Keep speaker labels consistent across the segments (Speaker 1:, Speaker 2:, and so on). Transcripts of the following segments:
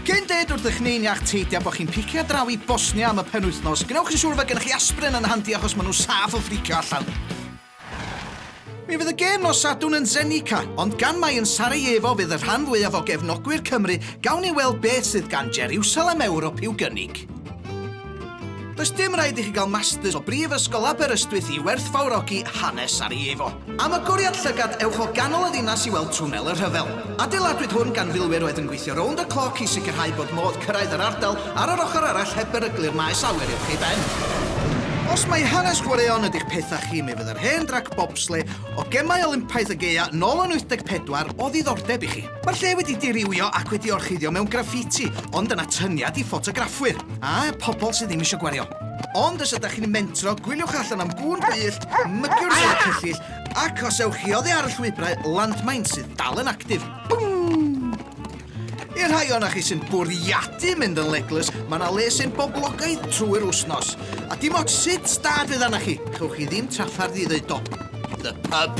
Speaker 1: Cyn dweud wrthych neu'n iach teidio bod chi'n picio draw i Bosnia am y penwythnos, gwnewch yn siŵr fod gennych chi aspirin yn handi achos maen nhw'n saff o ffricio allan. Mi fydd y gêm nos Sadwrn yn Zenica, ond gan mai yn Sarajevo fydd y rhan fwyaf o gefnogwyr Cymru, gawn ni weld beth sydd gan Jeriwsalem Ewrop i'w gynnig. Does dim rhaid i chi gael masters o Brifysgol Aberystwyth i werthfawrogi hanes Sarajevo. Am agoriad llygad, ewch o ganol y ddinas i weld Twnnel y Rhyfel. Adeiladwyd hwn gan filwyr oedd yn gweithio rownd y cloc i sicrhau bod modd cyrraedd yr ardal ar yr ochr arall heb beryglu'r maes awyr uwch ei ben. Os mai hanes chwaraeon ydy'ch pethau chi, mi fydd yr hen drac bobsle o Gemau Olympaidd y Gaeaf nôl yn 84 o ddiddordeb i chi. Mae'r lle wedi dirywio ac wedi orchuddio mewn graffiti, ond yn atyniad i ffotograffwyr, a pobl sydd ddim eisiau gwario. Ond os ydych chi'n mentro, gwyliwch allan am gŵn gwyllt, mygiwr o'r cyllyll, ac os ewch chi oddi ar y llwybrau, landmine sydd dal yn actif. I'r rhai o'na chi sy'n bwriadu mynd yn legless, mae yna le sy'n boblogaidd trwy'r wsnos. A dim ots sut stad fydd arna chi, chewch chi ddim traffarth i ddeud do. The pub.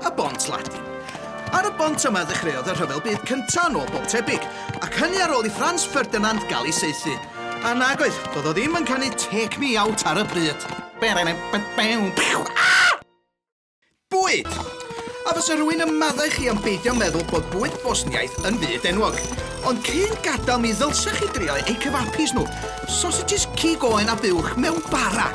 Speaker 1: Y Bont Ladin. Ar y bont yma ddechreuodd y Rhyfel Byd Cyntaf yn ôl bob tebyg, ac hynny ar ôl i Franz Ferdinand gael ei saethu. A nag oedd, doedd o ddim yn canu 'Take Me Out' ar y pryd. Bwyd! A fysa rhywun yn maddau chi am beidio meddwl bod bwyd Bosniaidd yn fyd enwog. Ond cyn gadael mi ddylsech chi drio eu cyfapis nhw, sosages cig oen a buwch mewn bara!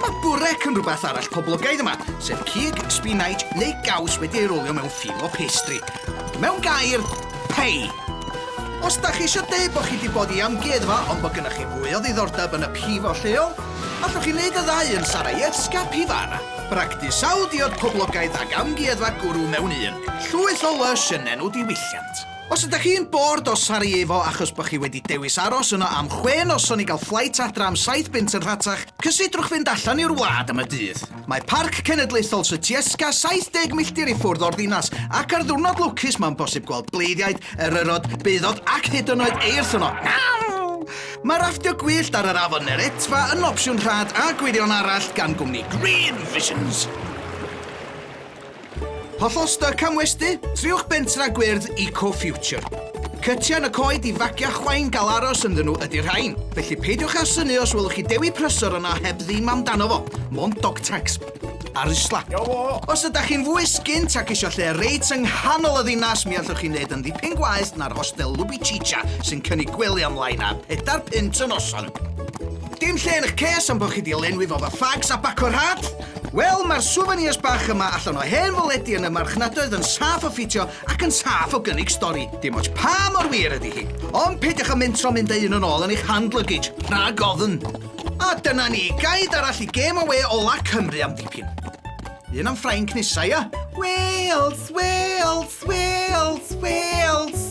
Speaker 1: Mae burek yn rhywbeth arall poblogaidd yma, sef cig, spinach neu gaws wedi ei rolio mewn ffil o pastry. Mewn gair, pei! Os da chi eisiau deud bod chi wedi bod i amgueddfa ond bod gennych chi fwy o ddiddordeb yn y pivo lleol, allwch chi wneud y ddau yn Sarajevska Pivara. Bragdy sawl diod poblogaidd ac amgueddfa gwrw mewn un. Llwyth o lysh yn enw diwylliant. Os ydych chi'n bored o Sarajevo achos bod chi wedi dewis aros yno am chwe noson i gael fflait adra am saith bunt yn rhatach, cysidrwch fynd allan i'r wlad am y dydd. Mae Parc Cenedlaethol Sutjeska 70 milltir i ffwrdd o'r ddinas, ac ar ddiwrnod lwcus mae'n bosib gweld bleiddiaid, eryrod, beudod ac hyd yn oed eirth yno. Mae rafftio gwyllt ar yr afon Neretva yn opsiwn rhad a gwirion arall gan gwmni Green Visions. Hollol styc am westy? Triwch bentra gwyrdd Eco Future. Cytiau yn y coed i fagiau chwain gael aros ynddyn nhw ydy'r rhain. Felly peidiwch â synu os welwch chi dewi prysor yna heb ddim amdano fo. Mond dog tags. Ar isla. Os ydych chi'n fwy sgint ac eisiau lle reit yng nghanol y ddinas, mi allwch chi wneud yn ddipyn gwaeth na'r hostel Lubichicha sy'n cynnig gwely am lai na pedair punt y noson. Dim lle yn eich ces am bod chi di lenwi fo fy fags a baco rhad? Wel, mae'r souvenirs bach yma allan o hen foledi yn y marchnadoedd yn saff o ffitio ac yn saff o gynnig stori. Dim ots pa mor wir ydy hi. Ond peidiwch â mentro mynd â un yn ôl yn eich hand luggage, rhag ofn. A dyna ni, gaid arall i gêm awe ola Cymru am ddipyn. Un am Ffrainc nesa, ia? Wales, Wales, Wales, Wales!